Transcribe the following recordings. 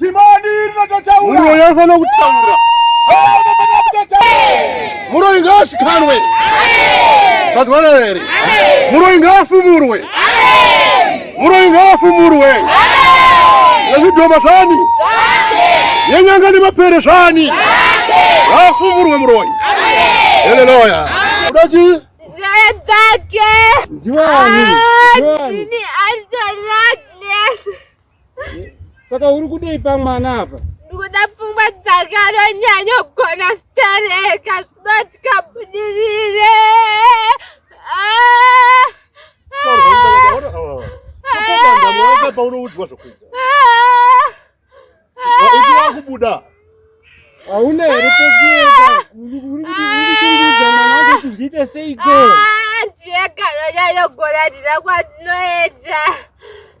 Dhimoni rinototaura. Muroyi anofanira kutaura. Muroyi ngaashikanwe. Mazwana here? Muroyi ngaafumurwe. Muroyi ngaafumurwe. Nezvidhoma zvani? Yenyanga nemapere zvani? Ngaafumurwe muroyi. Haleluya. Kuda chii? Ndiwani? Ndiwani? Saka uri kudei pamwana apa? Ndikuda pfungwa dzakaronyanya kugona kutereka zvinoti kabudirire. Paunoudzwa zvokuita. Waiti wakubuda. Hauna here pekuenda? Uri kuchengedza mwana wako kuti zviite seiko? Ndiye kanonyanya kugona ndina kwandinoedza.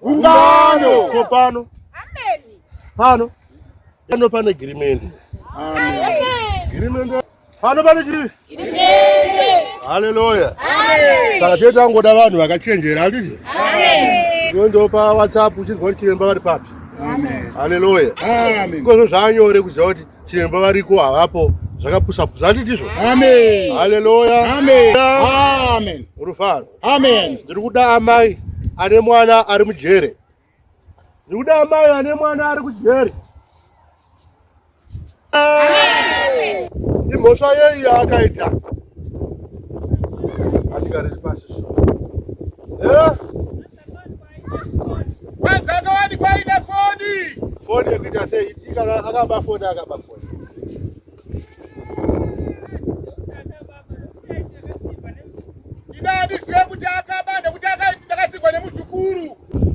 ungano ko pano pano pano pane girimende girimende pano pane chii haleluya saka tete angoda vanhu vakachenjera handizvo nondopa whatsapp uchinzwa kuti chiremba vari papi haleluya ikozvo zvaanyore kuziva kuti chiremba variko havapo zvakapusapusa handitizvo haleluya rufaro amen ndiri kuda amai ane mwana ari mujere ndiri kuda amai ane mwana ari kujere imhosva yei yaakaita atikariri pasi foni foni yekuita sei itikana akaba foni akaba foni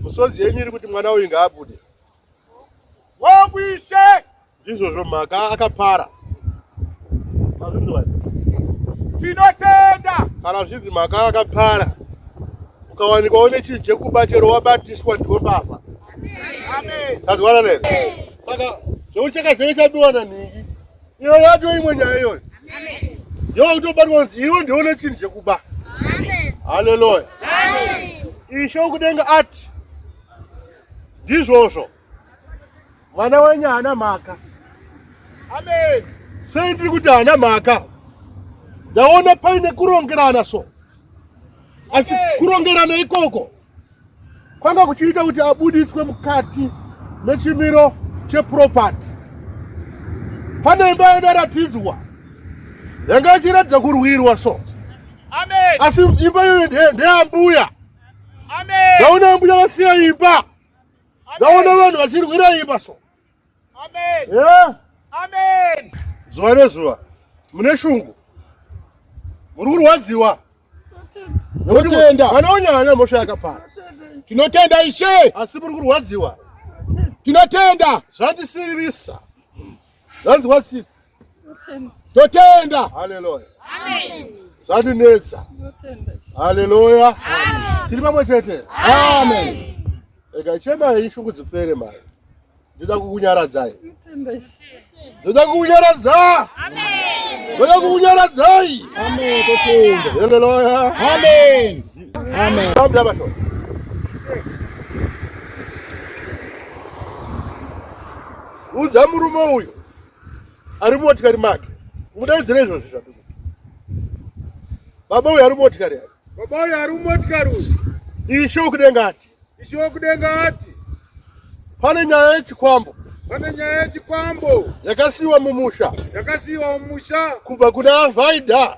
misodzi yenyu iri kuti mwana uyu ngaabude wokuishe ndizvozvo mhaka akapara tinotenda kana zvinzi mhaka akapara ukawanikwa une chinhu chekuba chero wabatiswa ndiwo baba tazwanana here saka zvekuti chakazeve chabiwa nanhingi iyo yato imwe nyaya iyoyo yova kutobatwa kunzi iwe ndione chinhu chekuba haleluya ishe ukudenga ati ndizvozvo mwana wenyu haana mhaka amen sei ndiri kuti haana mhaka ndaona paine kurongerana so asi kurongerana ikoko kwanga kuchiita kuti abuditswe mukati mechimiro cheproperty pane imba yadaratidzwa yanga ichiratidza kurwirwa so Amen. asi imba iyoyo nde- ndeambuya Amen. ndaona ambuya vasiya imba ndaona vanhu vachirwira imba so zuva nezuva mune shungu muri kurwadziwa tinotenda vanaonyanya mosha yakapara tinotenda ishe asi muri kurwadziwa tinotenda zvandisiririsa zvanzi watsitsi totenda haleluya zvatinetsa haleluya tiri pamwe chete amen ega chemai shungu dzipere mari ndoda kukunyaradzai ndoda kukunyaradza ndoda kukunyaradzai haleluya amen amen babuda bashona udza murume uyo ari mumotikari make mudaidzira izvozvi zvaduku baba uyu ari mumotikari aa baba uyu ari mumotikari uyu ishe wokudenga ati ishe wokudenga ati pane nyaya yechikwambo pane nyaya yechikwambo yakasiyiwa mumusha yakasiyiwa mumusha kubva kuna vaida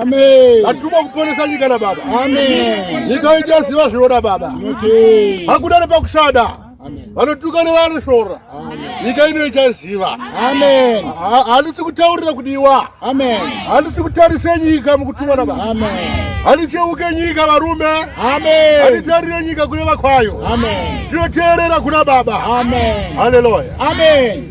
Amen. Atuma kuponesa nyika na baba. Amen. Nyika ija ziva zviona baba. Tinote. Hakuna nepakusada. Amen. Vanotuka nevanosvora. Amen. Nyika ino ichaziva. Amen. Handisi kutaurira kudiwa. Amen. Handisi kutarise nyika mukutumwa na baba. Amen. Handicheuke nyika varume. Amen. Handitarire nyika kune vakwayo. Amen. Tinoteerera kuna baba. Amen. Hallelujah. Amen.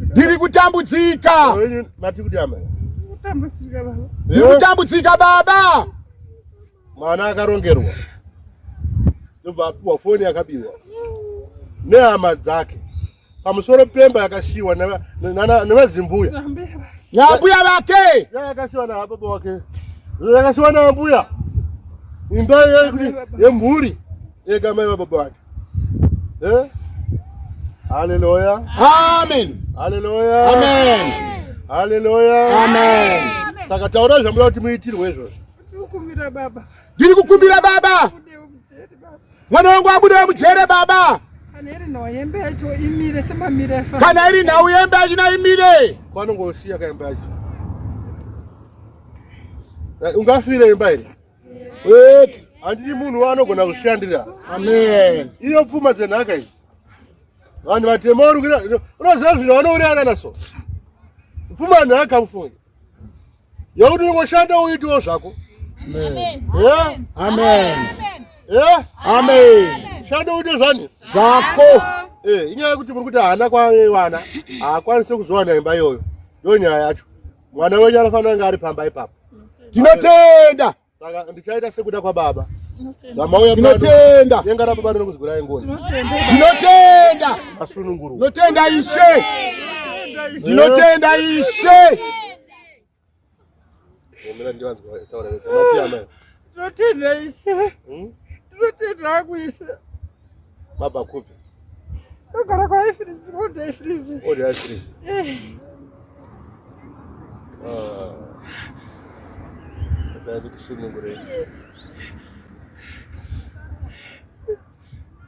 ndiri kutambudzika ndiri kutambudzika baba mwana akarongerwa ndobva apiwa foni yakabiwa nehama dzake pamusoro pemba yakashiwa nevazimbuya nambuya vake yakashiwa nababa wake yakashiwa nambuya imba yemhuri yegamai vababa vake Eh? Hallelujah. Amen. Hallelujah. Amen. Hallelujah. Amen. Saka taura zvamuda kuti muitirwe izvozvo. Ndikukumbira baba. Ndiri kukumbira baba. Mwana wangu abude mujere baba. Kana iri nhau yembe yacho imire semamire. Kana iri nhau yembe yacho na imire. Kwanongosiya kaimba yacho. Eh, ungafire imba iri. eti handidi munhu waanogona kushandira amen iyo pfuma dzenhaka idzi vanhu vatema urikuita unoziva zvino vanourayana naso pfuma nhaka mufunge yekuti unongoshanda uitiwo zvako shanda uite zvani zvako eh, inyaya yekuti muri kuti haana kwawana haakwanise kuzowana imba iyoyo ndo nyaya yacho mwana wenyu anofanira kunge ari pamba ipapo tinotenda saka ndichaita sekuda kwababa tinotenda denga rababa rinokuzirai ngoni tinotenda asununguru tinotenda ishe tinotenda ishe Tinotenda ishe. Hmm? Tinotenda hangu ishe. Mabva kupi? Ndogara kwaIfrizi, old Ifrizi. Old Ifrizi. Eh. Ah. Ndadzi kusunungura ishe.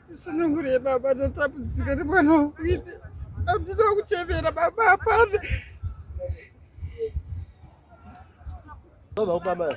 Kusunungura baba ndotambudzika nemwana wangu. Andina kuchemera baba hapana. Vamos, vamos, vamos.